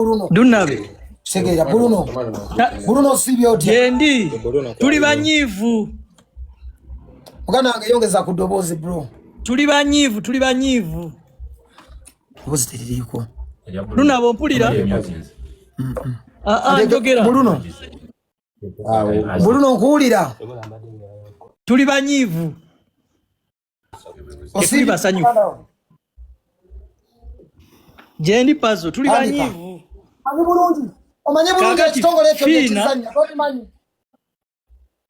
Bruno. Dunabe. Segera Bruno. Bruno sibyo otya. Yendi. Tuli banyivu. Mugana wange yongeza ku dobozi bro. Tuli banyivu, tuli banyivu. Dobozi teririko. Luna bompulira. Mm, mm. Ah ah njogera. Bruno. Bruno nkuwulira. Tuli banyivu. tetuli basanyufu gyendi pazo tuli banyivu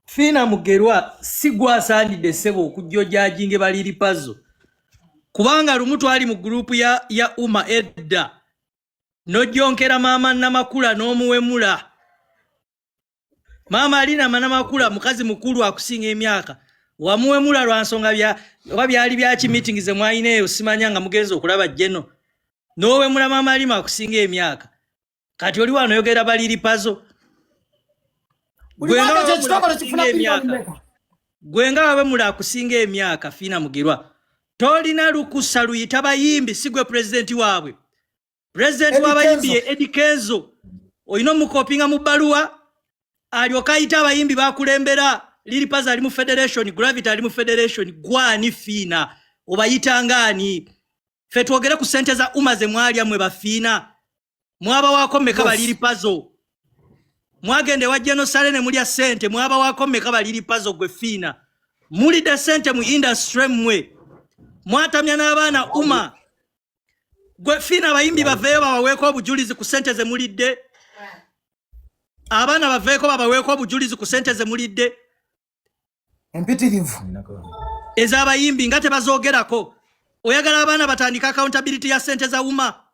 fiina mugerwa si gwasaanidde sebo okujja ojajinge baliri pazo kubanga lumu twali mu gurupu ya, ya uma edda nojjonkera maama namakula n'omuwemula maama alina amana makula mukazi mukulu akusinga emyaka wamuwemula lwa nsonga bya oba byali byaki meeting ze mwalina eyo simanya nga mugenzi okulaba jeno nowemula maama alima akusinga emyaka kati oli wano oyogera baliri pazo gwe nga wawemula akusinga emyaka fiina mugirwa tolina lukusa luyita bayimbi si gwe pulezidenti waabwe pulezidenti w'abayimbi ye edi kenzo olina omukopinga mu bbaluwa alyoka ayita abayimbi bakulembera liripas ali mu federation gravity ali mu federation gwani fiina obayitanga ani fe twogere ku sente za uma ze mwalya mwe bafiina mwabawaako meka baliripazo mwagenda ewa genosale ne mulya sente mwabawaako meka baliripazo gwe fiina mulidde sente mu industry mmwe mwatamya n'abaana uma gwe fiina abayimbi baveeyo babaweeko obujulizi ku sente ze mulidde abaana baveeko babaweeko obujulizi ku sente ze mulidde empitirivu ez'abayimbi nga tebazoogerako oyagala abaana batandike accountability ya sente za wuma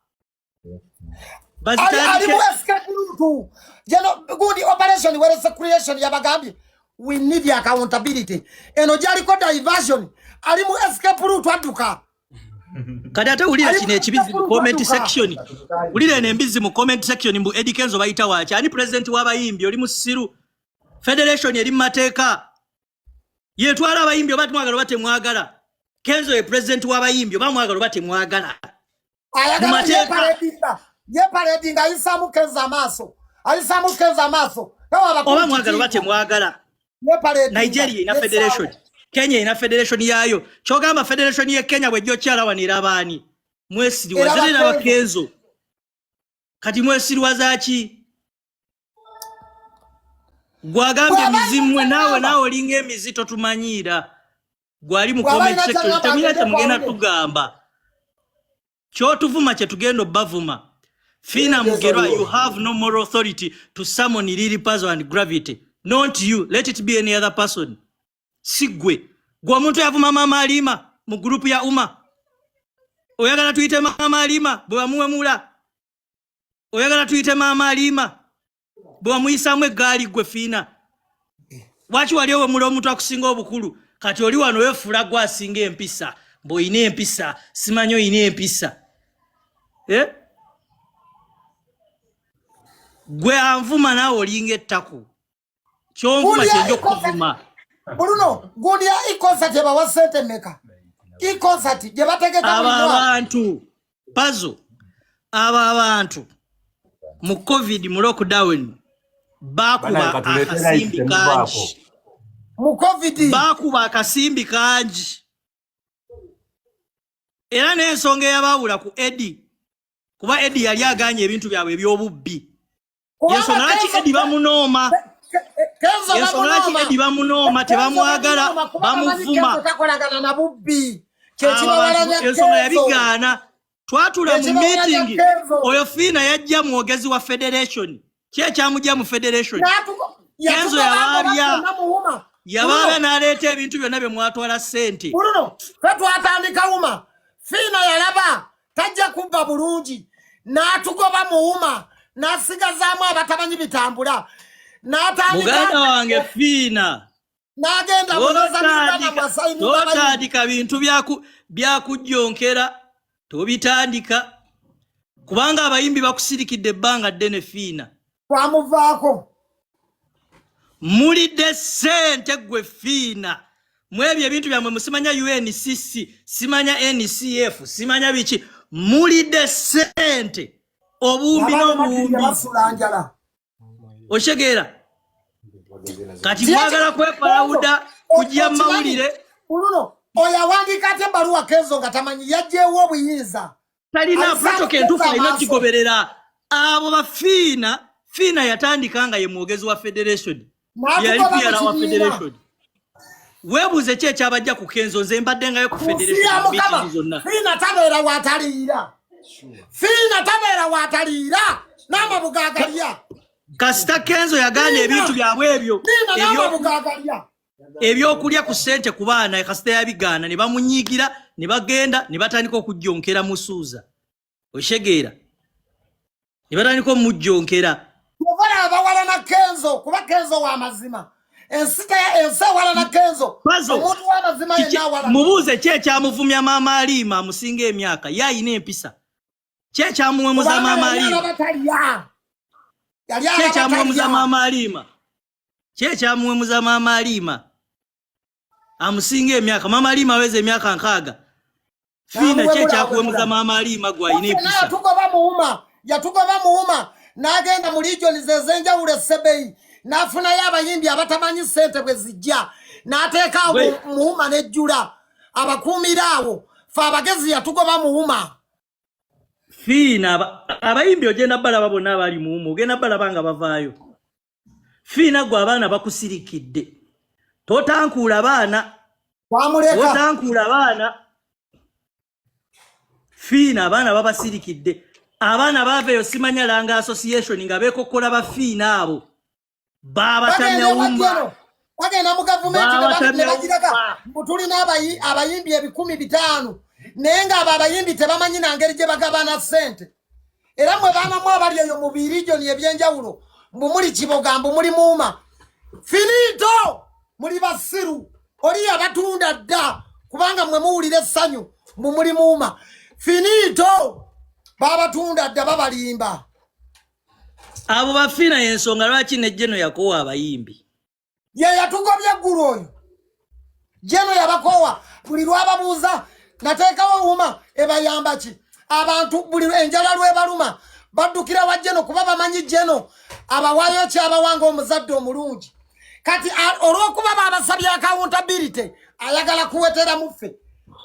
alimueskemuntu jeno good operation where is the creation yabagambye we need accountability eno gyaliko diversion ali mu escape route adduka kati ate wulira kino ekibizi mu comment section wulira eno embizi mu comment section mbu edi kenzo bayita waki ani president w'abayimbi oli musiru federation eri mu mateeka yetwala abayimbi oba twagala oba temwagala kenzo ye president w'abayimbi oba mwagala oba temwagala mu mateeka yeparedinga ayisamu kenzo amaaso ayisamu kenzo amaaso oba mwagala oba temwagala nigeria ina federation kenya ina federation yayo kyogamba federation ye kenya bwejjo kyalawanira abaani mwesiriwa zirina abakenzo kati mwesiriwa zaki gwagambye mizimwe nawe nawe olinga emizi totumanyiira gwali mu comment section temuyate mugenda tugamba kyotuvuma kyetugenda obavuma fina mugerwa you have no moral authority to summon lili pazo and gravity not you let it be any other person sigwe gwe omuntu yavuma mama alima mu group ya uma oyagala tuyite mama alima bwebamuwemula oyagala tuyite mama alima bwewamuyisaamu eggaali gwe fiina lwaki wali owemula omuntu akusinga obukulu kati oli wano wefuula gwe asinga empisa mbuolina empisa simanyi olina empisa eh? gwe anvuma naawe olinga ettaku kyonvuma kyenja okukuvuma buluno gulya ikonsa gyebawa sente meka ikonsa ti gyebategeka abantu pazo abo abantu mu covid mu lockdown bakuba akasimbi kangi mu covid bakuba akasimbi kangi era n'ensonga eyabaawula ku edi kuba edi yali aganye ebintu byabwe eby'obubbi yensonga lwaki edi bamunooma yensonga lwaki edi bamunooma tebamwagala bamuvuma ensonga yabigaana twatula mu meeting oyo fiina yajja mwogezi wa federation ki ekyamujja mu federation kenzo yabaabya yabaabya n'aleeta ebintu byonna bye mwatwala ssente fe twatandika wuma fiina yalaba tajja kubba bulungi n'atugoba muwuma n'asigazaamu abatamanyi bitambula n'atandikauganda wange fiina n'agenda totandika bintu byakujjonkera tobitandika kubanga abayimbi bakusirikidde ebbanga ddene fiina twamuvaako mulidde sente gwe fiina mwebyo ebintu byammwe musimanya uncc simanya ncf simanya biki mulidde sente obumbi n'obumbi okitegeera kati mwagala kwepalawuda kujja mawulire kuluno oyo awandiika ate ebbaluwa keezo nga tamanyi yajjeewo obuyinza talina protoka entufu alina kigoberera abo bafiina fiina yatandika nga ye mwogezi wa federation yali piyala wa federation webuuze ki ekyabajja ku kenzo nze mbadde ngayo ku federation zonna fiina tabeera wataliira fiina tabeera wataliira n'amabuga agalya kasita kenzo yagaana ebintu byabwe ebyo ebyokulya ku sente ku baana kasita yabigaana ne bamunyiigira ne bagenda ne batandika okujjonkera musuuza oshegeera ne batandika omujjonkera obala abawala na kenzo kuba kenzo wa mazima ensi ewala na kenzo omuntu wamazima yenawala mubuuze ki ekyamuvumya maama aliima amusinga emyaka ye ayina empisa ki ekyamuwemuza maama aliima ki ekyamuwemuza maama aliima kyekyamuwemuza maama aliima amusinga emyaka maama aliima aweza emyaka nkaaga fiina kyekyakuwemuza maama aliima gwayina empisa yatugoba muwuma yatugoba muwuma n'agenda mu ligioni ze ez'enjawulo esebeyi n'afunayo abayimbi abatamanyi ssente bwe zijja n'ateekaawo muwuma n'ejjula abakuumira awo fe abagezi yatugoba muwuma fiina abayimbi ogenda balaba bonna abali muwuma ogenda balaba nga bavaayo fiina gwe abaana bakusirikidde totankuula baana totankuula baana fiina abaana babasirikidde abaana baava eyo simanya langa association nga beekokkola bafiina abo babatamya wumba bagenda mu gavumenti nebagiraga mbu tulina abayimbi ebikumi bitaano naye ngaabo abayimbi tebamanyi nangeri gye bagabana ssente era mwe baanamu abali eyo mu birijoni ebyenjawulo mbu muli kiboga mbu muli muuma finito muli basiru oli yabatunda dda kubanga mwe muwulira essanyu mbu muli muuma finito babatunda dda babalimba abo bafiina yensonga lwaki ne jeno yakoowa abayimbi ye yatugobye eggulu oyo jeno yabakoowa buli lwababuuza nateekawo wuma ebayamba ki abantu buli enjala lwebaluma baddukira wa jeno kuba bamanyi jeno abawayo kyabawanga omuzadde omulungi kati olwokuba babasabye akawuntabirite ayagala kuwetera muffe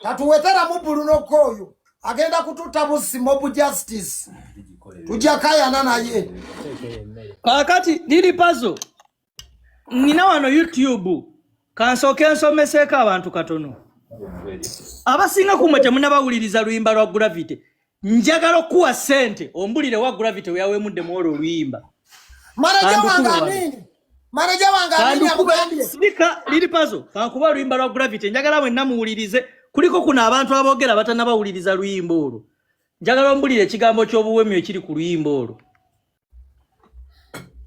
tatuwetera mu bulu nokooyo agenda kututta buzzi mob justice tujja kayana naye kakati lili pazo nina wano youtube kansooke nsomeseeko abantu katono abasinga kumwe temunabawuliriza luyimba lwa gravity njagala okukuwa sente ombulire wa gravity weyawemuddemu olwo oluyimba manaja wange amini Manager wange amenya mugambye. Speaker lili pazo kakuba luimba lwa gravity njagala mwe namuwulirize kuliko kuna abantu abogera batanabawuliriza luimba olwo. Njagala ombulire ekigambo ky'obuwemyo ekiri ku luimba olwo.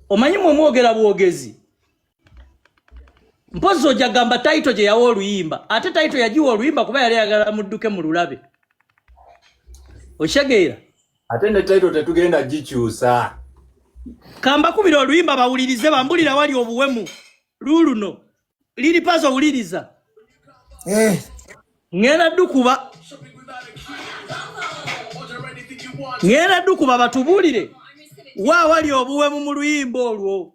Omanyi mwe mwogera bwogezi. Mpozi ojja gamba title gye yawa oluyimba ate title yagiwa oluyimba kuba yali ayagala mudduke mu lulabe. Okitegeera? ate ne title tetugenda gikyusa kambakubira oluyimba bawulirize bambulira wali obuwemu luluno liri pazo owuliriza eh. ngenda dukuba ngenda dukuba batubuulire wa wali obuwemu mu luyimba olwo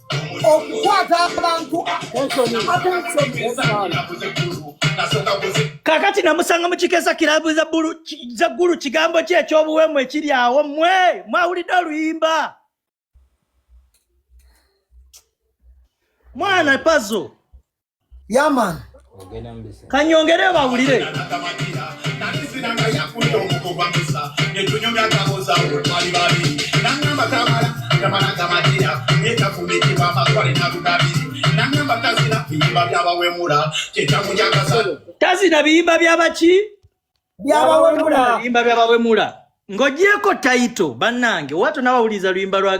okukwata abantu kakati namusanga mukikesa kirabu za ggulu kigambo ki ekyobuwemu ekiri awo mwe mwawulidde oluyimba mwana pazo yaman kanyongere bawulire tazina biyimba byabaki byabawemula ng'ogyeko tayito bannange watu nawawuliriza luyimba lwa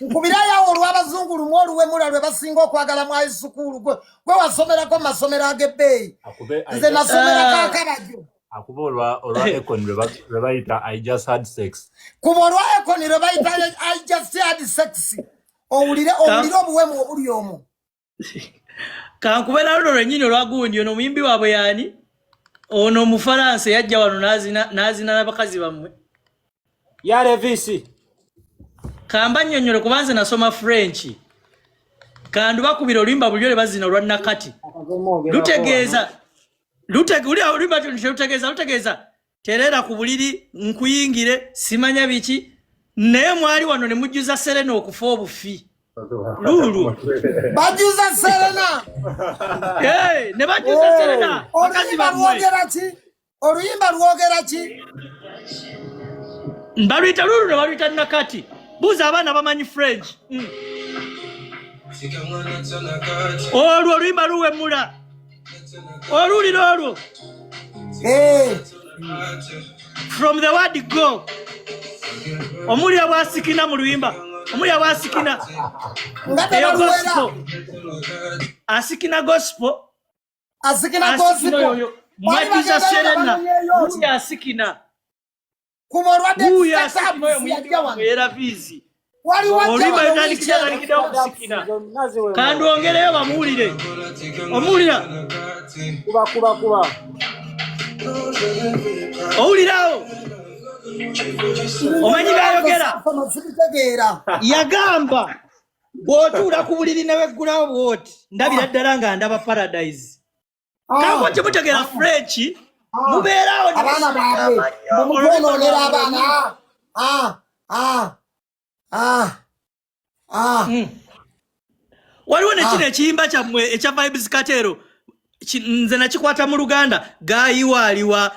nkubirayo awo olw'abazungu lumu oluwemula lwe basinga okwagala mu aisukuulu gwe gwe wasomerako mu masomero ag'ebbeeyi nze nasomerako ah. akabajo akuba olwa olwa econ lwe bayita i just had sex kuba olwa econ lwe bayita i just had sex owulire owulire obuwemu obuli omu kankubera luno lwenyini olwagundi ono omuyimbi waabwe yaani ono omufalansa yajja wano nazina nabakazi bammwe yarevisi kamba nyonyole kuba nze nasoma french kandi bakubira oluyimba bulyo lwebazina olwa nakati lutegeeza lutegeeza lutegeeza tereera ku buliri nkuyingire simanya biki naye mwali wano ne mujjuza serena okufa obufi luulu bajuza serena ne bajuza oh. serena bakazi bamwe oluyimba lwogera ki baluyita luulu ne baluyita nakati buuza abaana bamanyi french hmm. olwo oluyimba luwemula oluwulira olwo eh. from the word go omulira bwasikina mu luyimba omulira bwasikina eyo gospel asikina gospel asikina gospel mwajuza serena mulya asikina kuba olwadde kandi ongereyo bamuwulire omuwulira kubakubakuba owulirawo omanyi byayogera yagamba bw'otuula ku buliri neweggulawo bw'oti ndabira ddala nga ndaba paradise ah. nabwo kimutegera ah. french ah. mubeerawo abaana baabwe mumutwonoonera abaana hmm. waliwo nekino ekiyimba kyammwe ekya vibes katero nze nakikwata mu luganda gayiwaaliwa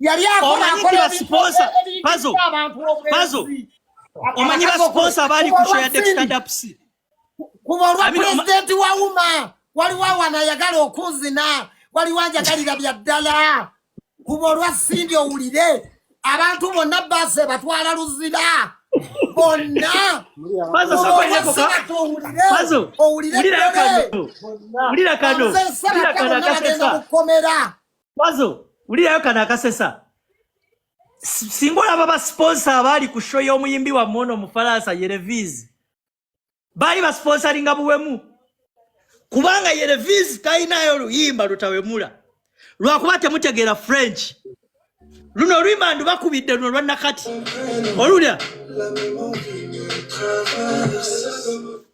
yali akola akola sponsor pazo pazo omanyi ba sponsor bali ku share the stand up si kuba olwa president wa uma wali wa wana yagala okuzina wali wanja kalira bya dala kuba olwa sindi owulire abantu bonna base batwala luzira bonna pazo soko yako ka pazo owulire kano owulire kano owulire kano akasesa Pazo, ulilayo kana akasesa. Singo la baba sponsor abali kushoya omuyimbi wa mono mufalasa Yereviz. Bali ba sponsoring abuwemu. Kubanga Yereviz taina yo luyimba lutawemula. Lwakuba temutegera French. Luno luyimba ndu bakubidde luno lwa nakati. Olulya.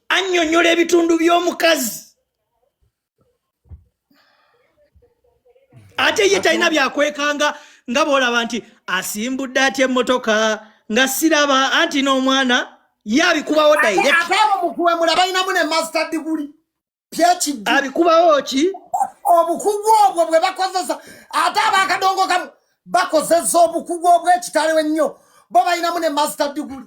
Anyonyola ebitundu by'omukazi. ate ye talina byakwekanga nga bwolaba nti asimbudde atya emmotoka nga siraba anti n'omwana ye abikubawo dairektmukuwemula balinamu ne master diguli phd abikubawo ki obukugu obwo bwe bakozesa ate abakadongo kamu bakozesa obukugu obwekitalo ennyo bo balinamu ne master diguli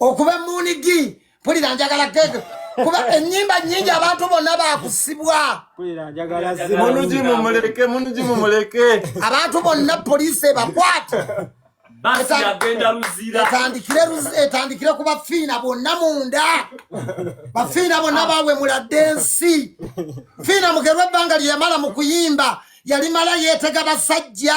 okuba munigi mpulira njagala gege kuba enyimba nyingi abantu bonna bakusibwa abantu bonna poliisi ebakwate etandikire ku bafiina bonna munda bafiina bonna bawemulade ensi fiina mugerwa ebbanga lyeyamala mu kuyimba yalimala yeetega basajja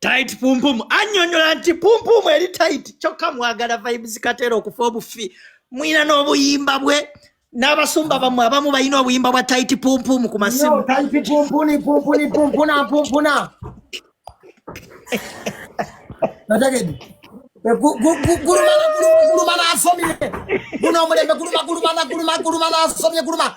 Tight pumpumu annyonnyola nti pumpumu eri tight kyokka mwagala vibes kateera okufa obufi mwina n'obuyimba bwe n'abasumba bamwe abamu balina obuyimba bwa tayiti pumpumu ku masimu tayiti pumpuni pumpuni pumpuna pumpuna nategedi gulumana gulumana asomye guno omulembe guluma gulumana guluma gulumana asomye guluma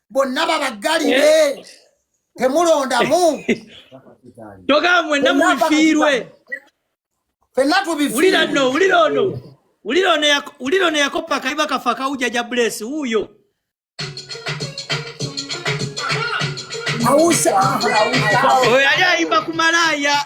bonna babaggalire eh. temulondamu togamba mwenna mubifiirwe fenna tubiwulira no wulira ono wulira ono yakoppa kaiba kafa kawujaja bulesi wuuyo oyo yali ayimba ku malaaya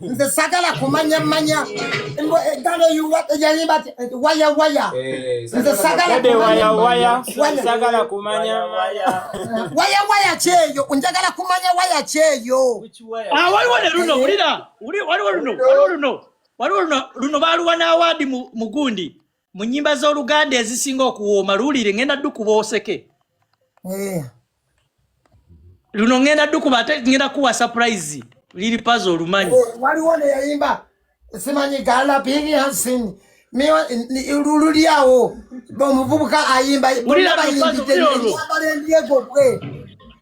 nze sagala kumanya manya gano yayimba waya waya nze sagala waya waya sagala kumanya waya waya waya kyeyo njagala kumanya waya kyeyo ah waliwo ne luno wulira waliwo luno waliwo luno waliwo luno luno baluwa n'awaadi mu gundi mu nyimba z'oluganda ezisinga okuwooma luwulire ngenda dukuba oseke eh. luno ngenda dukuba ate ngenda kuwa surprise liri pazo olumanyi oh, waliwo neyayimba simanyi gala bini hansini lululyawo omuvubuka ayimba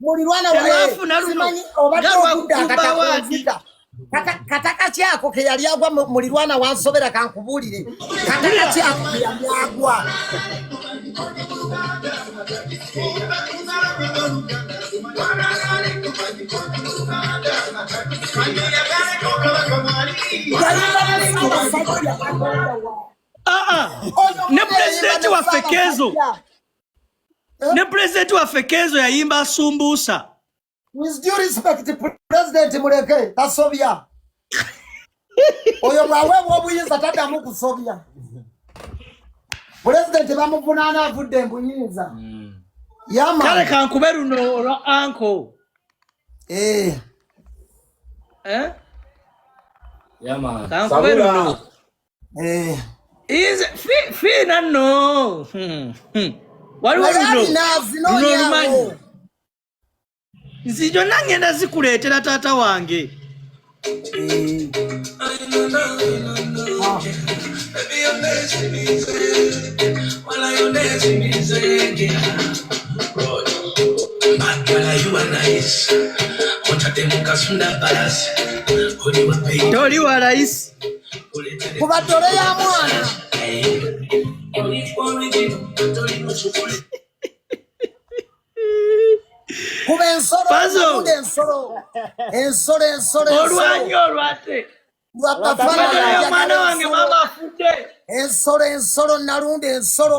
mulirwana wasimanyi obadde okudda akatakunzika katakaki ako keyali agwa mulirwana wansobera kankubuulire katakaki ako keyali agwa Ah, ah. ne pulezidenti waffe keezo eh? ne pulezidenti waffe kenzo yayimba asumbuusa pulezidenti muleke tasobya oyo bwaweebwa obuyinza taddamu kusobya pulezidenti bamuvunaana avudde mbuyinza hmm. kale kankube luno olwa anko eh. Eh? kankube luno Eh. Is fi fi na no. Hmm. Hmm. Wali wali no. No manyi. Nzijo nange na zikuletera tata wange. Eh. Toli wa rais. kubatole ya mwana kuba ensolo ensolo ensolo ensolo olwanyi olwate omwana wange mama afudde ensolo ensolo nalunda ensolo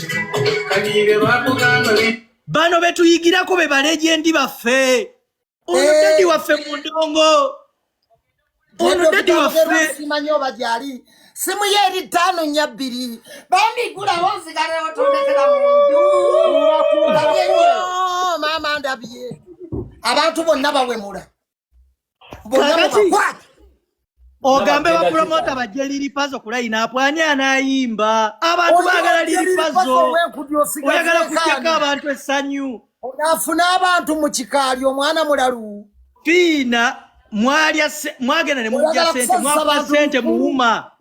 bano betuyigirako be balegendi baffe ono eh. dadi waffe mu ndongo ono dadi waffesimanyi oba gyali simu ye eri ttaano nya bbiri bambigulawo nzigalewo tondekera munju maama ndabye abantu bonna bawemula ogambe bapromota bajje liripazo kulayina apwani anayimba abantu bagala liripazo oyagala kutyako abantu essanyu afune abantu mu kikaali omwana mulalu fiina mwagenda ne mujja sente mwakuba sente muwuma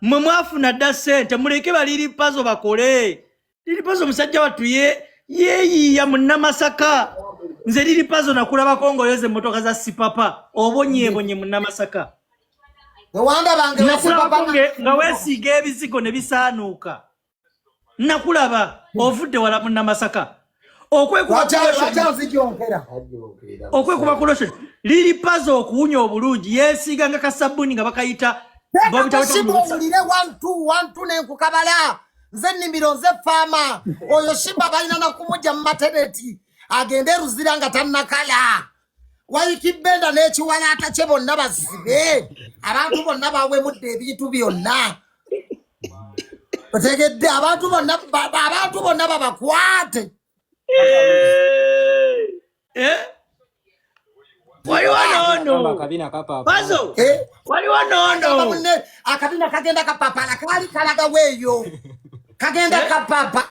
mwe mwafuna dda sente muleke baliri pazo bakole liri pazo omusajja wattu ye yeyiiya munamasaka nze liri pazo nakulabako ngaoyoza emotoka za sipapa obonyebonye munamasaka nakulabako nga wesiiga ebizigo ne bisaanuuka nakulaba ovudde wala munamasaka okwekuba kulosho liri paza okuwunya obulungi yesiiga nga kasabbuni nga bakayita owulire wantu wantu nenkukabala nze nimiro nze faama oyo shimba balina nakumugya mumateneti agende eruzira nga tannakala wayiki benda n'ekiwalaata kye bonna bazibe abantu bonna bawemudde ebintu byonna otegedde abantu bonna abantu bonna babakwate eh, eh? waliwo nono pazo eh? waliwo nono akabina kagenda kapapala kaali kalagaweeyo kagenda kapapa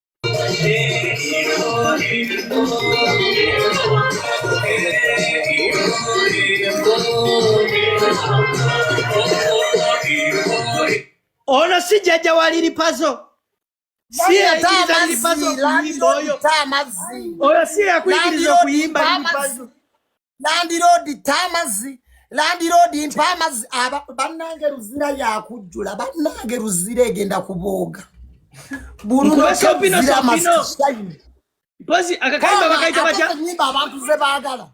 Ono si jajja wa Lili Pazo. Si yakiriza Lili Pazo kuyimba oyo. Oyo si yakuyigiriza okuyimba Lili Pazo. landiroodi tta amazzi landiroodi mpa amazzi bannange luzira yakujjula bannange luzira egenda kubooga bulunoziramasisayimpozi akakayimba bakayita batya abantu ze baagala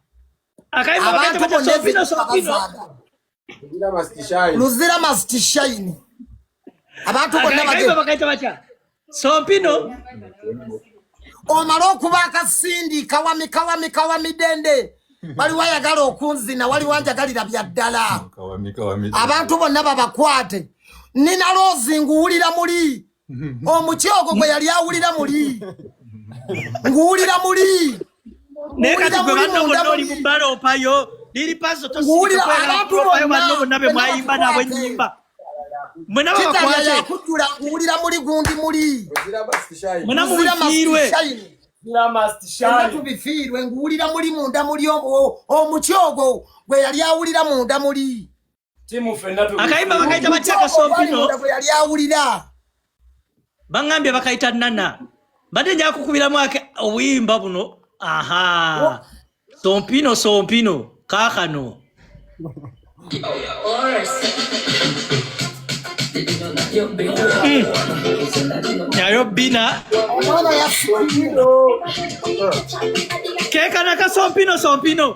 abantu bonna ezibaagala luzira must shine abantu bonna bagenda sompino omala okuba akasindi kawami kawami kawami dende waliwo ayagala okunzina waliwo anjagalira bya ddala abantu bonna babakwate nina loozi nguwulira muli omuti ogwo gwe yali awulira muli nguwulira muli naye kati gwe banno bonna oli mumbala opayo liri paso tosiabantuopayo banno bonna be mwayimba nabo enyimba mwenabakwatekujjula nguwulira muli gundi muli mwenamubifiirwe tubifiirwe nguwulira muli munda muli omuti ogwo gwe yali awulira munda muli akayimba bakayita batya kasompino yali awulira baŋambye bakayita nana mbadde nja kukubiramu ake obuyimba buno aha sompino sompino kaakano nayo bina kekana kasompino sompino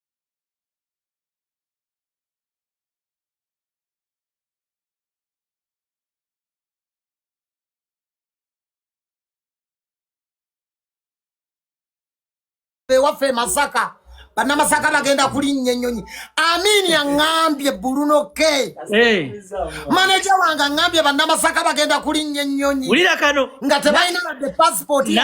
ewaffe emasaka banamasaka bagenda kulinnya ennyonyi amini aŋambye bulunoke maneja wange aŋambye banamasaka bagenda kulinnya ennyonyi nga tebalina ladde pasipooti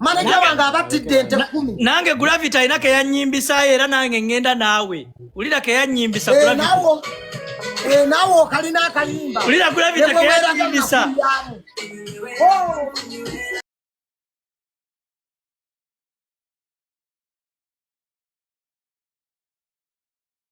maneja wange abattidde ente kumi nange gravity alina keyannyimbisayo era nange ngenda naawe ulira keyanyimbisa eh, eh, naawe okalina akayimba ulira gravity keyanyimbisa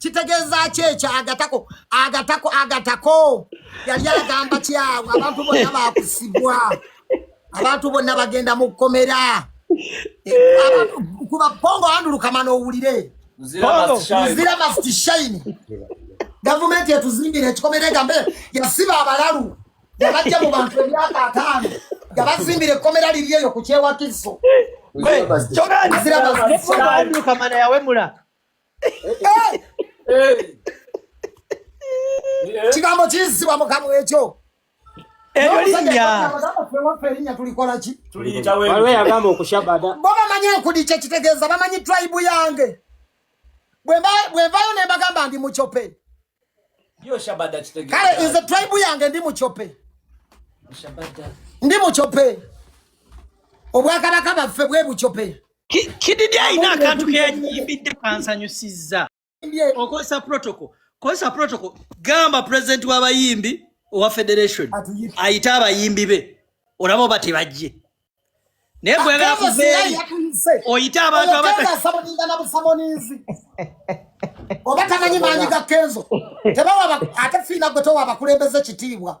kitegeeza ki ekyo agatako agatako agatako yali agamba kyawe abantu bonna bakusibwa abantu bonna bagenda mu kkomera kuba pongo andulukama n'owulire muzira must shine gavumenti etuzimbira ekikomera egambe yasiba abalalu yabajja mu bantu emyaka ataano yabazimbira ekkomera liri eyo ku kyewakiso muzira must shine kigambo kiyisibwa mu kamwa ekyo eryo linnya waliwo yagamba okushabada bo bamanyi enkudi kye kitegeeza bamanyi tribe yange bwenvayo ne mbagamba ndi mucope kale nze tribe yange ndi mucope ndi mucope obwakabaka baffe bwe bucope kididi ayina akantu keyanyimbidde kansanyusizza okozesa protocol kozesa protocol gamba president w'abayimbi owa federation ayite abayimbi be olaba oba tebajje naye gweyagala kuveeri oyite abantu abatasamuninzi oba tamanyi maanyi ga kenzo tebawa ate fiina gwe towa abakulembeze kitiibwa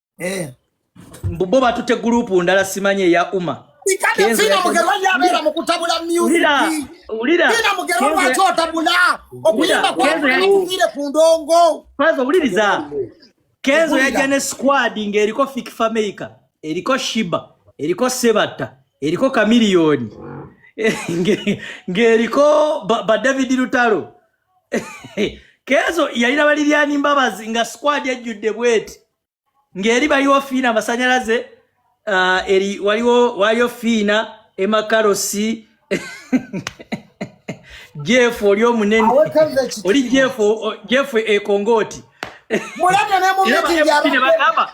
eh. mbu bo batute gurupu ndala simanye eya uma owuliriza kenzo yajja ne squad ngaeriko fik fameica eriko shiba eriko sebatta eriko kamiliyoni ngaeriko badavid lutalo kezo yalina balilyani mbabazi nga squad yajjudde bweti ng'eri baliwo fiina amasanyalaze uh, eri waliwo waliyo fiina emakarosi jeff oli omunene oli jeff jeff ekongooti mulabye ne mu meeting yabagamba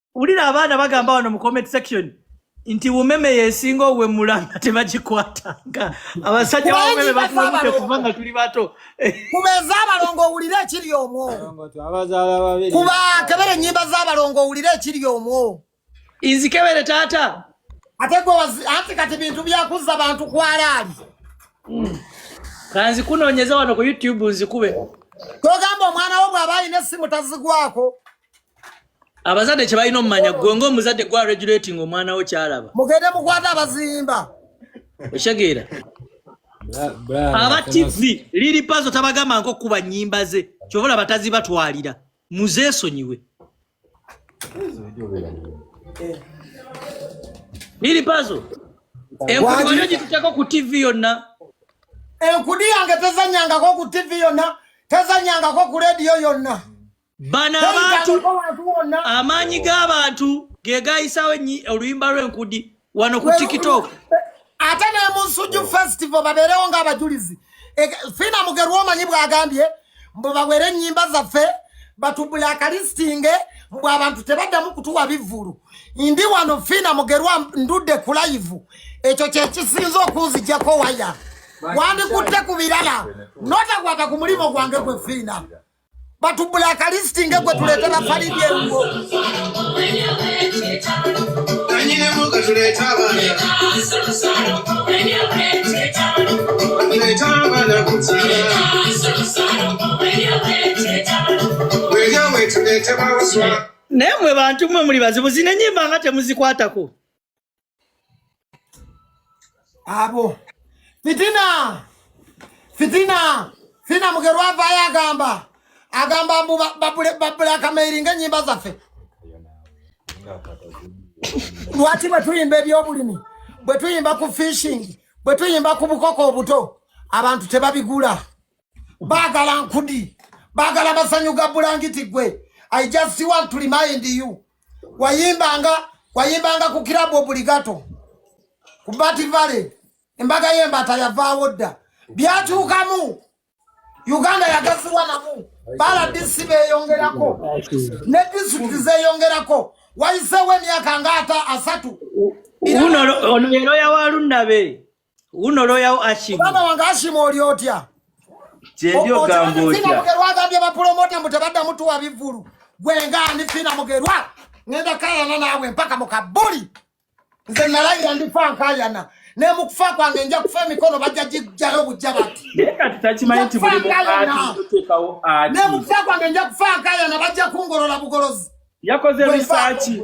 wulira abaana bagamba wano mu comment section nti umeme yesinga owemula nga tebagikwatanga abasajja baumeme batulabudde kuva nga tuli bato kubeeza abalongo owulire ekiri omwo kuba kebere enyimba z'abalongo owulire ekiri omwo inzikebere taata ate gwe anti kati bintu byakuzza bantu kwalaali hmm. kanzikunonyeza wano ku youtube nzikube togamba omwana wo bw'aba alina essimu tazigwako abazadde kyebalina omumanya gwe ngaomuzadde gwa regulating omwana wo kyalaba mugende mukwata abazimba okitegeera aba tv liri pazo tabagamba nko kuba nyimba ze kyobola batazi batwalira muzesonyiwe liri pazo enkudi wali ogituteko ku tv yonna enkudi yange tezanyangako ku tv yonna tezanyangako ku rediyo yonna bano abantu amaanyi g'abantu ge gayisawo oluyimba lw'enkudi wano ku tiktok ate ne mu nsujju festival babeerewo ng'abajulizi e, fiina mugerwa omanyi bw'agambye mbu bawere ennyimba zaffe batubula akalistinge mbu abantu tebaddamu kutuwa bivvulu ndi wano fiina mugerwa ndudde ku layivu ekyo kye kisinza okunzijako waya wandikutte ku birala notakwata ku mulimu gwange gwe fiina batubula akalisiti nga gwe tuletera falibye ngo naye mwe bantu mwe muli bazibu zino enyimba nga temuzikwatako abo fitina fitina fina mugero avayo agamba agamba mbu babulakamairinga enyimba zaffe lwaki bwetuyimba ebyobulimi bwetuyimba ku fishing bwetuyimba ku bukoko obuto abantu tebabigula bagala nkudi bagala masanyu ga bulangiti gwe i just want to remind you wayimbanga wayimbanga ku club obligato ku Bat Valley embaga y'embata yavaawo dda byatuukamu Uganda yagaziwa namu bala DC beyongerako ne district zeyongerako wayiseewo emyaka ngaata asatu uno ono yero yawa lundabe uno loya u ashimu bana wanga ashimu oli otya chendio gambo otya fina mugerwa gambye ba promoter mutabadda mutu wa bivulu gwe ngani fina mugerwa ngenda kayana nawe mpaka mukabuli nze nalayira ndifa nkayana naye mukufa kwange nja kufa emikono bajja gijjayo bujja bati naye mukufa kwange nja kufa nkayana bajja kungolola bugolozi yakoze risaaki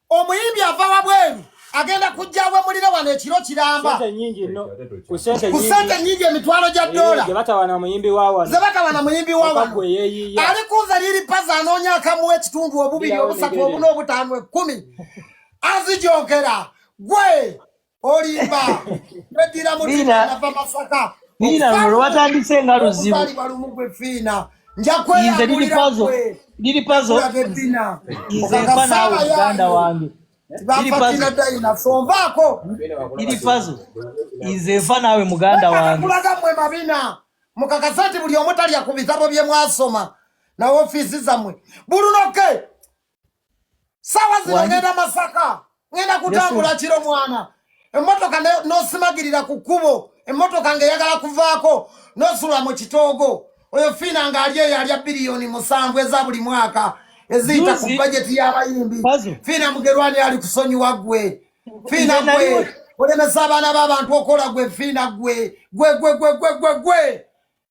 omuyimbi ava wabweru agenda kujja wemulire wano ekiro kiramba ku sente nyingi emitwalo gya eh, dola zebatawana muyimbi wawano ali kunze liri paza anoonya akamuwa ekitundu obubiri obusatu obuna obutaano ekkumi azijogera gwe olimba nedira mutinava masaka fiina lwewatandise nga luzibu lumu gwe fiina njakweyinze liri pazo liri pazo nze nfa naawe muganda wange bafatinadainasonvaako liri pazo nze nfa naawe muganda wange kulaga mwe mabina mukakasa nti buli omu talya ku bitabo bye mwasoma na ofiisi zammwe bulunoke sawa zino ngenda masaka ngenda kutambula kiro mwana emmotoka nosimagirira ku kkubo emmotoka ngeyagala kuvaako nosula mu kitoogo oyo fiina ngaali eyo alya biliyoni musanvu eza buli mwaka eziyita ku bajeti y'abayimbi fiina mugerwani ali kusonyiwa gwe fiina gwe olemesa abaana b'abantu okola gwe fiina gwe gwe gwe gwe gwe gwe gwe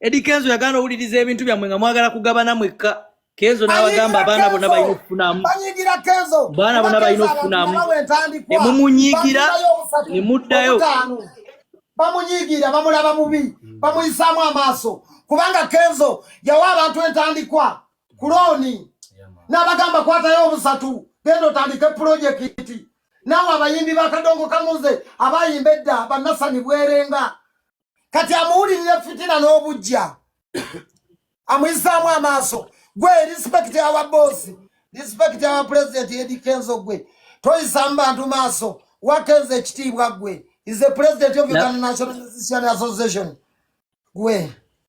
Edi Kenzo yagana owuliriza ebintu byammwe nga mwagala kugabana mwekka Kenzo n'abagamba abaana bona balina okufunamu baana bona balina okufunamu ne mumunyiigira ne muddayo bamunyiigira bamulaba bubi hmm. bamuyisaamu amaaso kubanga Kenzo yawa abantu entandikwa ku looni n'abagamba kwatayo obusatu genda otandike pulojekiti naawe abayimbi bakadongo kamuze abayimba edda bannasani bwerenga kati amuwulirira fitina n'obujja amuyisaamu amaaso gwe respect awa bosi respect awa pulezidenti edi kenzo gwe toyisaamu bantu maaso wakenza ekitiibwa gwe is the president of uganda national association gwe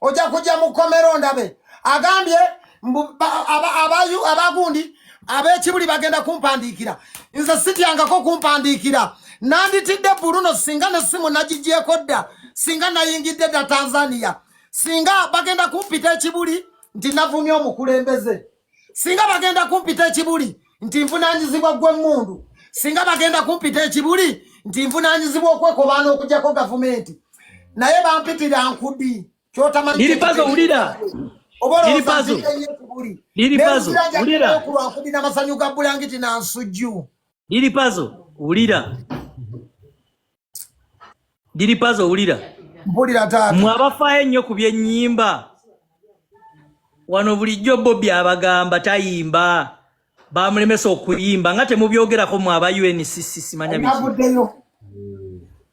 ojja kujja mu kkomero ndabe agambye abagundi ab'ekibuli bagenda kumpandiikira nze sityangako kumpandiikira nanditidde buluno singa ne simu nagigyeko dda singa nayingidde dda tanzania singa bagenda kumpita ekibuli nti navumye omukulembeze singa bagenda kumpita ekibuli nti nvunanyizibwa gwe mundu singa bagenda kumpita ekibuli nti nvunanyizibwa okwekobaana okujako gavumenti naye bampitira nkudi kyotamanyiripazoulira obaoakulwankudi namasanyu ga bulangiti nansujju liripazo ulira diri pazi owulira mpulira taata mwe abafaayo ennyo ku byennyimba wano bulijjo bobi abagamba tayimba bamulemesa okuyimba nga temubyogerako mwe aba uncc simanya bivuddeyo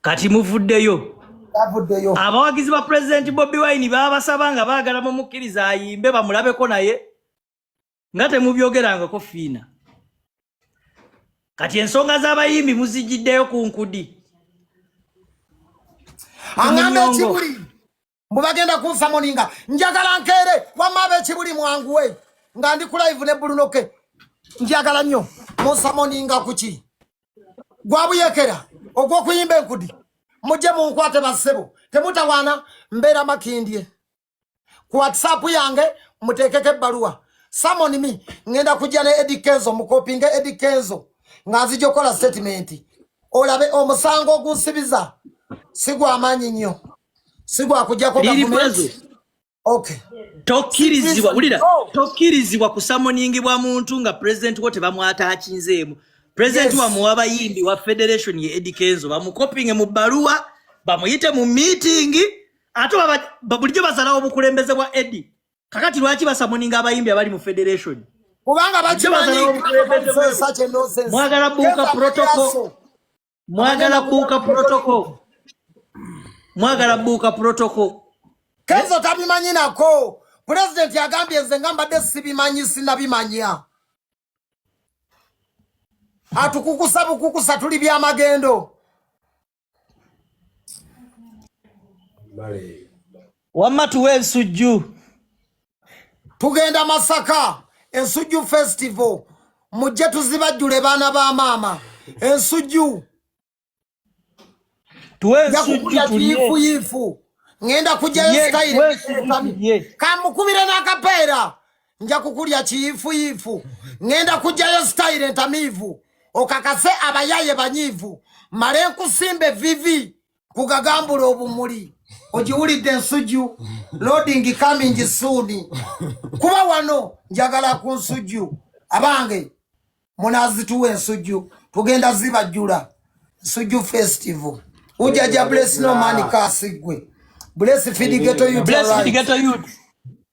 kati muvuddeyo avuddeyo abawagizi ba pulezidenti bobi wine babasaba nga baagala mumukkiriza ayimbe bamulabeko naye nga temubyogerangako fiina kati ensonga z'abayimbi muzijiddeyo ku nkudi aŋamba ekibuli mbu bagenda kunsa moninga njagala nkeere wamma aba ekibuli mwanguwe nga ndi ku live ne bulunoke njagala nnyo munsa moninga kuki gwabuyekera ogw'okuyimba enkudi mujje munkwate bassebo temutawaana mbeera makindye ku whatsapp yange muteekeko ebbaluwa samoni mi ŋŋenda kujja ne edi kenzo mukopinga edi kenzo nga nzija okukola sitatimenti olabe omusango ogunsibiza si gwamaanyi nnyo si gwakujjako gavumenti okay tokkirizibwa wulira tokkirizibwa kusamoningibwa muntu nga pulezidenti wo tebamwata akinzeemu pulezidenti yes. wamu wabayimbi wa federation ye edikenzo bamukopinge mu bbaluwa bamuyite mu miitingi ate bulijjo basalawo obukulembeze bwa edi kakati lwaki basamuninga abayimbi abali mu federation kubanga bakimanyimwagala buuka protocol mwagala buuka protocol mwagala buuka protocol kenzo tabimanyi nako pulezidenti agambye nze nga mbadde sibimanyi sinabimanya atukukusa bukukusa tuli byamagendo wamma tuwa ensujju tugenda masaka ensujju festival mujje tuzibajjule baana ba maama ensujju tuweensujjuyifuyifu ngenda kujjayo sitayiri kamukubire n'akapeera nja kukulya kiyifuyifu ngenda kujjayo sitayiro entamiivu okakase abayaye banyiivu male nkusimba evivi kugagambula obumuli ogiwulidde ensujju loading coming soon kuba wano njagala ku nsujju abange munazituwa ensujju tugenda zibajjula nsujju festival ujaja bless no man kasi gwe bless fidigeto youth bless fidigeto youth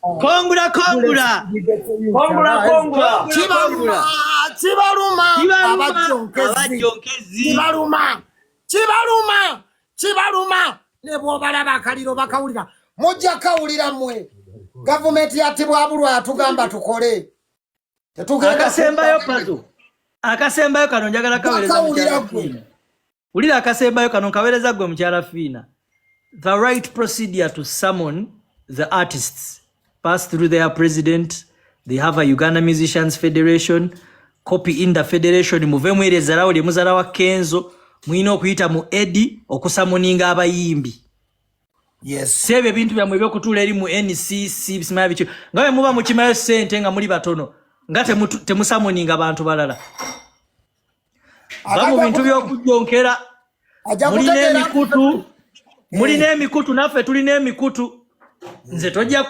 Kongula kongula. Kongula kongula. Kibaluma. Kibaluma. Abajonkezi. Kibaluma. Kibaluma. Kibaluma. Ne bwobala bakaliro bakawulira. Mujja kawulira mwe. Gavumenti yatibwa abulwa atugamba tukole. Tetugenda akasembayo pazo. Akasembayo kano njagala kawereza. Bakawulira gwe. wulira akasembayo kano nkawereza gwe mukyala fiina the right procedure to summon the artists pass through their president they have a uganda musicians federation copy in the federation muve mwere ezalawo lye muzala wa kenzo mulina okuyita mu edi okusamuninga abayimbi yes ebyo ebintu byamwe ebyokutuula eri mu ncc bisimaya bityo nga bwe muba mukimayo sente nga muli batono nga temusamuninga bantu balala va mu bintu by'okujjonkera mulina emikutu mulina emikutu naffe tulina emikutu nze tojja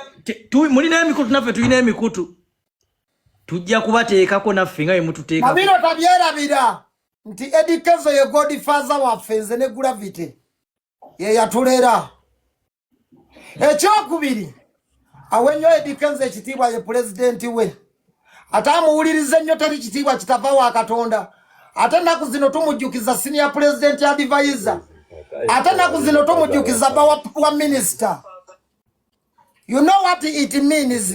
mulina emikutu naffe tulina emikutu tujja kubateekako naffe nga bwemututeekabino tabyerabira nti edikezo ye godfather waffe nze ne gravity yeyatulera ekyokubiri awe nnyo edikenza ekitiibwa ye pulezidenti we ate amuwuliriza ennyo teri kitiibwa kitava wa katonda ate ennaku zino tumujjukiza siniya pulezidenti adivayiza ate ennaku zino tumujjukiza ba wa minisita you know what it means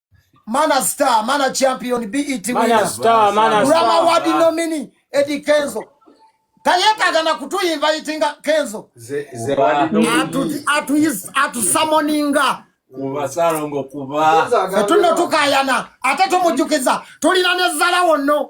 Mana Star, Mana Champion, BET winner, Star, Mana Star, Rama Wadi nominee, Eddie Kenzo. Tayetaga na kutu invitinga Kenzo. Ze, ze wadi nominee. Atu, atu, is, atu summoninga. Kuba salongo kuba. Fetuno tukayana. Ate tumujukiza. Tulina nezala wono.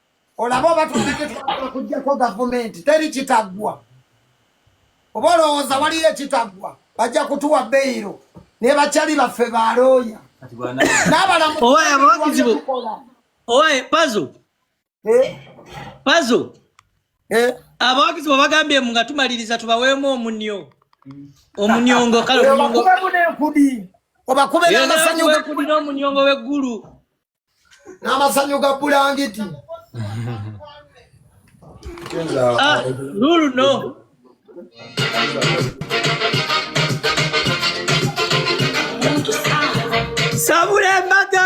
olaba oba tunagetwala kujjako gavumenti teri kitaggwa oba olowooza waliyo ekitaggwa bajja kutuwa beyiro naye bakyali baffe balooya n'abalamuowakizibu owaye pazo eh? pazo eh? abawagizi bwe bagambye mu nga tumaliriza tubaweemu omunyo omunyongo kale omunyongo obakube n'amasanyu omunyongo w'eggulu n'amazanyo ga bulangiti ah, lulu no sabula embata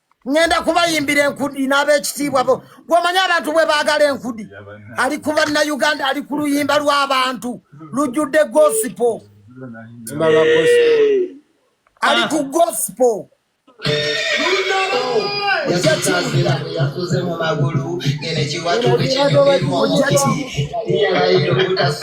ŋŋenda kubayimbira enkudi n'ab'ekitiibwa bo gw'omanyi abantu bwe baagala enkudi ali ku bannayuganda ali ku luyimba lw'abantu lujjudde gosipo ali ku gosipo yasasazira yasuze mu magulu ngene kiwatukikinyumirwa omuti yali yalayira obutasa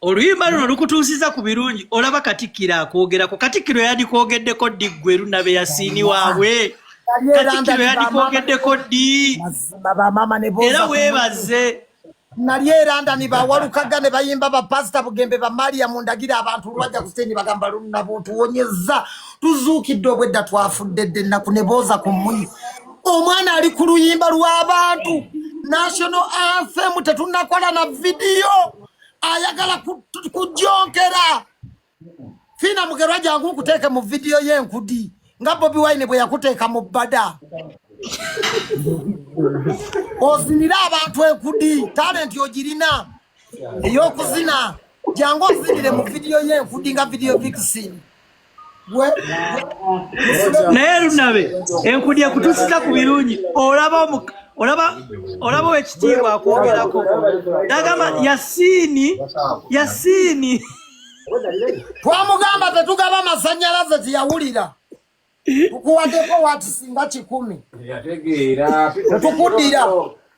oluyimba luno lukutuusiza ku birungi olaba katikkiro akwogerako katikkiro yadikwogeddeko ddi ggwe luna be yasiini waabwe katikkiro yadikwogeddeko ddi era weebaze nali eranda nibawalukaga ne bayimba bapasita bugembe bamaria mundagira abantu lwaja kuseni bagamba lunabutuwonyeza tuzuukidde obwedda twafudde dde ennaku ne booza ku muyi omwana ali ku luyimba lw'abantu national anthem tetunakola na vidiyo ayagala kujonkera fiina mugerwa jangu nkuteeke mu vidiyo y'enkudi nga bobi wine bwe yakuteeka mu bbada ozinire abantu enkudi talenti ogirina ey'okuzina jangu ozinire mu vidiyo y'enkudi nga vidiyo vikisini naye lunabe enkudi ekutusiza ku birungi olaba olaba olaba wekitiibwa akwogerako nagamba yasiini yasiini twamugamba tetugaba amasanyalaze tiyawulira tukuwadeko wati singa kikumi tetukudira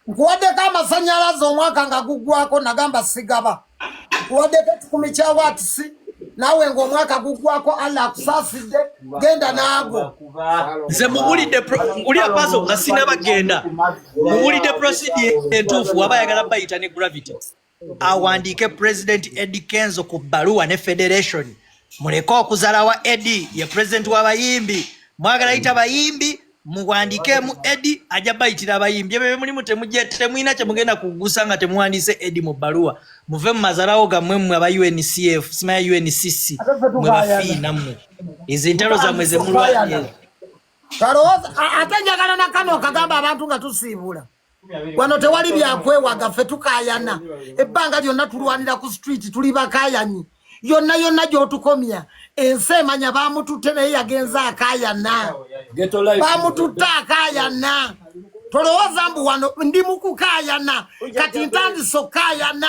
nkuwaddeko amasanyalaze omwaka nga guggwako nagamba sigaba nkuwaddeko ekikumi kya watisi naawe ng'omwaka guggwako allah akusaasidde genda naago nze muwulidde uli apaso nga sinabagenda muwulidde prosidi entuufu waba ayagala bayita ne gravity awandiike president edi kenzo ku bbaluwa ne federation muleke okuzalawa edi ye president wabayimbi mwagala yita bayimbi muwandiikemu edi ajja bayitira abayimbi ebyo byemulimu temulina kyemugenda kugusa nga temuwandiise edi mu bbaluwa muve mu mazalawo gammwe mmwe aba uncf simaya uncc mwe bafii nammwe ezo entalo zammwe zemulwanyera ate njagala nakano okagamba abantu nga tusiibula wano tewali byakwewaga ffe tukayana ebbanga lyonna tulwanira ku street tuli bakayanyi yonna yonna gyotukomya ensi emanya bamututte naye yagenze akayana bamututte akayana tolowooza mbu wano ndi mukukayana kati ntandise okukayana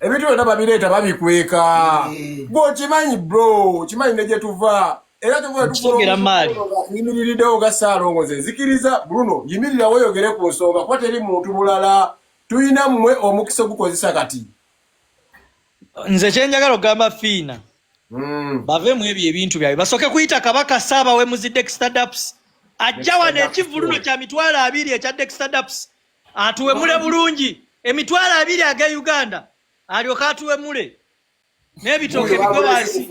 ebintu byonna babireeta babikweka eh. gwe okimanyi bro okimanyi ne gyetuva era tuvayimiriridewo ga saalongo ze nzikiriza bruno yimirira weyogere ku nsonga kuba teri muntu mulala tulina mmwe omukisa ogukozesa kati nze kyenjagala okugamba fiina hmm. bave mu ebyo ebintu byabwe basooke kuyita kabaka saaba wemuzidde extadaps ajja wano ekivululo kya mitwalo abiri ekya dextadaps atuwemule bulungi emitwalo abiri aga uganda alyoke atuwemule n'ebitooke bigwe wansi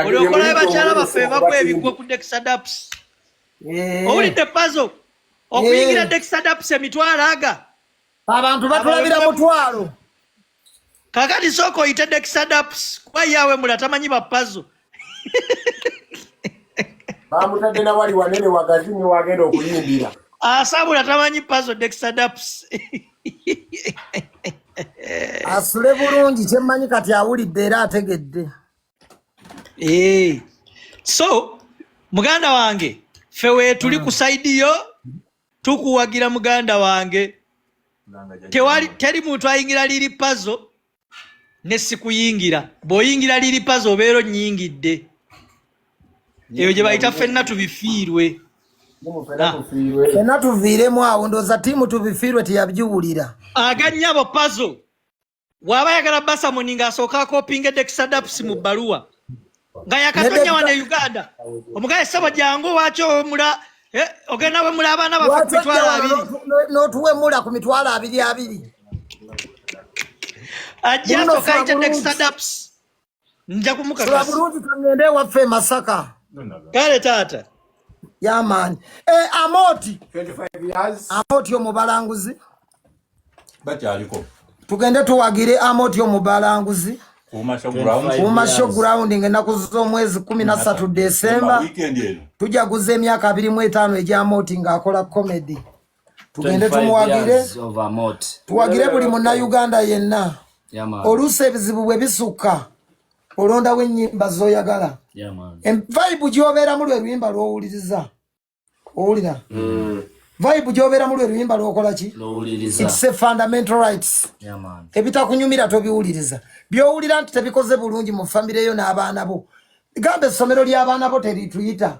olyokolayo bakyala baffe bagwa ebigwo ku dexadaps eh. owulidde pazo okuyingira eh. dexadaps emitwalo aga abantu batulabira mutwalo kakati sooka oyite dexadaps kuba ye awemula tamanyi bapazo bamutadde nawali wanene wagazi niwagenda okuyimbira asabula tamanyi pazo dexadaps asule bulungi kyemmanyi kati awulidde era ategedde eh. so muganda wange fe wetuli ku saidi yo tukuwagira muganda wange tewali teri muntu ayingira liri pazo ne sikuyingira bwoyingira liri pazo obeera onyingidde eyo gye bayita fenna tubifiirwe ah. fenna tuviiremu awo ndooza tiimu tubifiirwe teyabiwulira aganyabo pazo waba yagala basa muni nga asoka ko pinge de kisadaps mu baluwa nga yakatonya wa ne Uganda omugaye sabo jangu wacho mula eh ogena we mula abana bafa mitwala abiri no tuwe mula ku mitwala abiri abiri ajja soka ite de kisadaps nja kumukakasa bulungi tugende ewaffe e masaka kale taata yamaani e, eh, amooti amooti omubalanguzi bakyaliko tugende tuwagire amoti omubalanguzi kumasho ground ngenaku zomwezi kumi nasatu desemba tujaguza emyaka abiri mu etaano egyamoti ngaakola comedy tugende tumuwagire tuwagire buli munnayuganda yenna oluusi ebizibu bwe bisukka olondawo ennyimba zoyagala vibe gyobeeramu lwe luyimba lwowuliriza owulira mm. vibe gyobeeramu lwe luyimba lwokola ki its a fundamental rights ebitakunyumira tobiwuliriza byowulira nti tebikoze bulungi mu famireyo n'abaana bo gamba essomero ly'abaana bo terituyita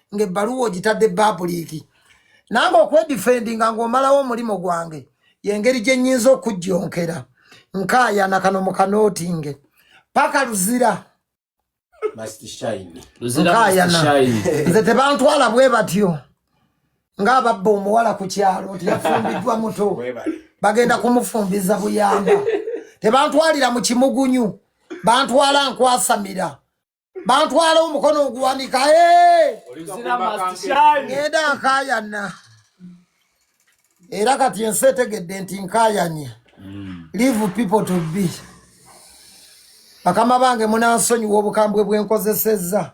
ng'ebbaluwa ogitadde babuliiki nange okwedifendinga ng'omalawo omulimu gwange yengeri gye nnyinza okujjonkera nkaayana kano mu kanootinge paka luzira nkaayana nze tebantwala bwe batyo ng'ababba omuwala ku kyalo nti yafumbiddwa muto bagenda kumufumbiza buyamba tebantwalira mu kimugunyu bantwala nkwasamira bantwala omukono oguwanika ngenda nkayana era kati ensi etegedde nti nkayanye hmm. leave people to be bakama bange munansonyiwa obukambwe bwenkozesezza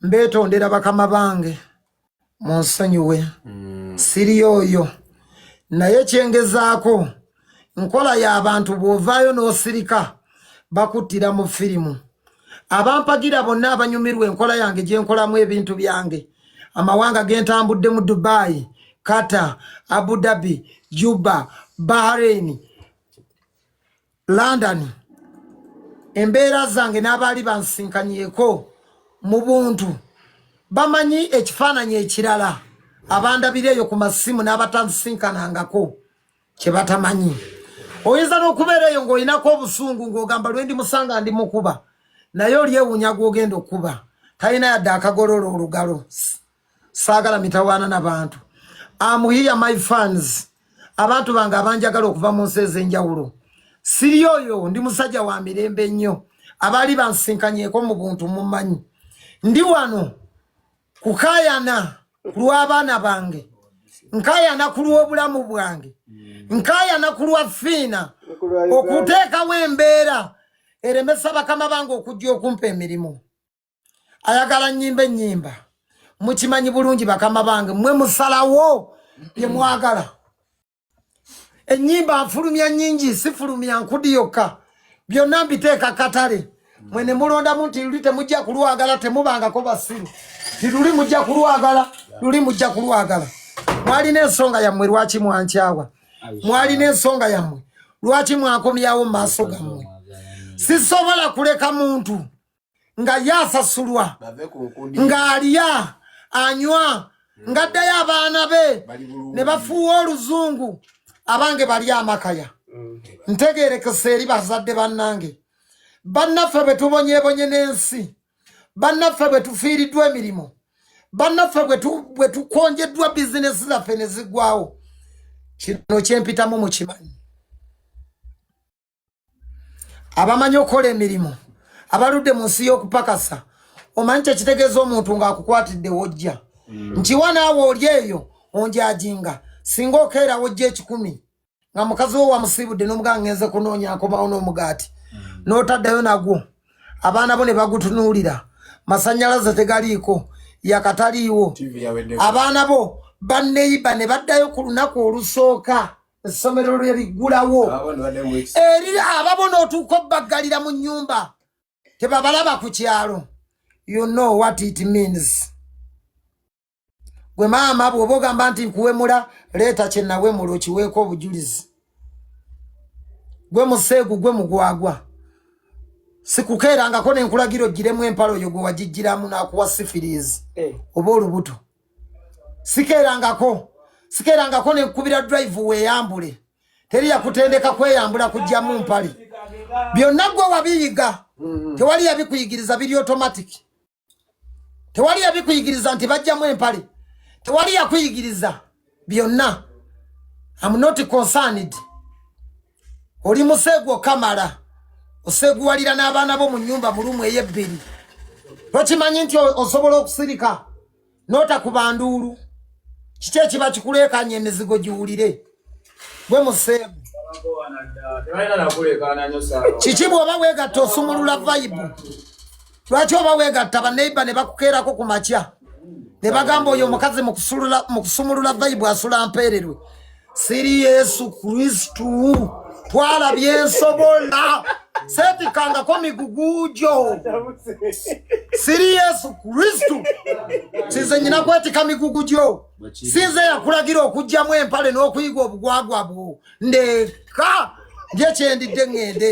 mbeetondera bakama bange munsonyiwe mm. siri oyo naye kyengezaako nkola y'abantu bw'ovaayo n'osirika bakuttira mu firimu abampagira bonna abanyumirwa enkola yange gye nkolamu ebintu byange amawanga ge ntambudde mu dubai kata abu dhabi juba bahrain London embeera zange n'abaali bansinkanyeko mu buntu bamanyi ekifaananyi ekirala abandabira eyo ku masimu n'abatansinkanangako kye batamanyi oyinza n'okubeera eyo ng'olinako obusungu ng'ogamba lwendi musanga ndi mukuba naye olyewunya gw'ogenda okukuba talina yadde akagolola olugalo saagala mitawaana na bantu amuhiya my fans abantu bange abanjagala okuva mu nsi ez'enjawulo siri oyo ndi musajja wa mirembe ennyo abaali bansinkanyeko mu buntu mumanyi ndi wano kukayana ku lw'abaana bange nkayana ku lw'obulamu bwange nkayana ku lwa fiina okuteekawo embeera eremesa bakama bange okujja okumpa emirimu ayagala nyimba enyimba mukimanyi bulungi bakama bange mwe musalawo byemwagala enyimba afulumya nyingi sifulumya nkudi yokka byonna mbiteeka katale mwe ne mulondamu nti luli temujja kulwagala temubangako basiru ti luli mujja kulwagala luli mujja kulwagala mwalina ensonga yammwe lwaki mwankyawa mwalina ensonga yammwe lwaki mwakomyawo mu maaso gammwe sisobola kuleka muntu nga ye asasulwa ng'alya anywa hmm. ng'addayo abaana be ne bafuuwa oluzungu abange bali amakaya hmm. ntegeerekesa eri bazadde bannange bannaffe bwe tubonyebonye n'ensi bannaffe bwe tufiiriddwa emirimu bannaffe bwe tukonjeddwa bizinesi zaffe ne ziggwawo kino kyempitamu mukimanyi abamanyi okukola emirimu abaludde mu nsi y'okupakasa omanyi kyekitegeeza omuntu ng'akukwatidde wojja mm. nkiwa naawe oli eyo onjajinga singa okeera wojja ekikumi nga mukazi wo wamusiibudde n'omuga ngenze kunoonya nkomawo n'omugaati mm. n'otaddayo nagwo abaana bo ne bagutunuulira masannyalaze tegaliiko yakataliiwo abaana bo banneyiba ne baddayo ku lunaku olusooka essomero lwe liggulawo eri ababona otuuka obbaggalira mu nnyumba tebabalaba ku kyalo you know what it means gwe maama bw'oba ogamba nti nkuwemula leeta kye nawemula okiweeko obujulizi gwe museegu gwe mugwagwa sikukeerangako ne nkulagira ogiremu empalo oyo gwe wagigiramu n'akuwa sifiriizi eh. oba olubuto sikeerangako sikeerangako ne nkubira drive weeyambule teri yakutendeka kweyambula kujjamu mpale byonna gwe wabiyiga mm-hmm. tewali yabikuyigiriza biri automatic tewali yabikuyigiriza nti bajjamu empale tewali yakuyigiriza byonna am not concerned oli museegu okamala oseeguwalira n'abaana bo mu nyumba mu lumu eyebbiri tokimanyi nti osobola okusirika n'otakubanduulu kiki ekiba kikuleekanya emizigo giwulire gwe museegu kiki bw'oba weegatta osumulula vayibu lwaki oba wegatta baneiba ne bakukeerako ku makya ne bagamba oyo omukazi mu kusumulula vayibu asula mpeererwe siri yesu kristu twala byensobola setikangako migugu gyo siri yesu kristu sinze nyina kwetika migugu gyo sinze yakulagira okugjamu empale n'okuyiga obugwagwa bwo ndeka nje kyendidde ŋŋende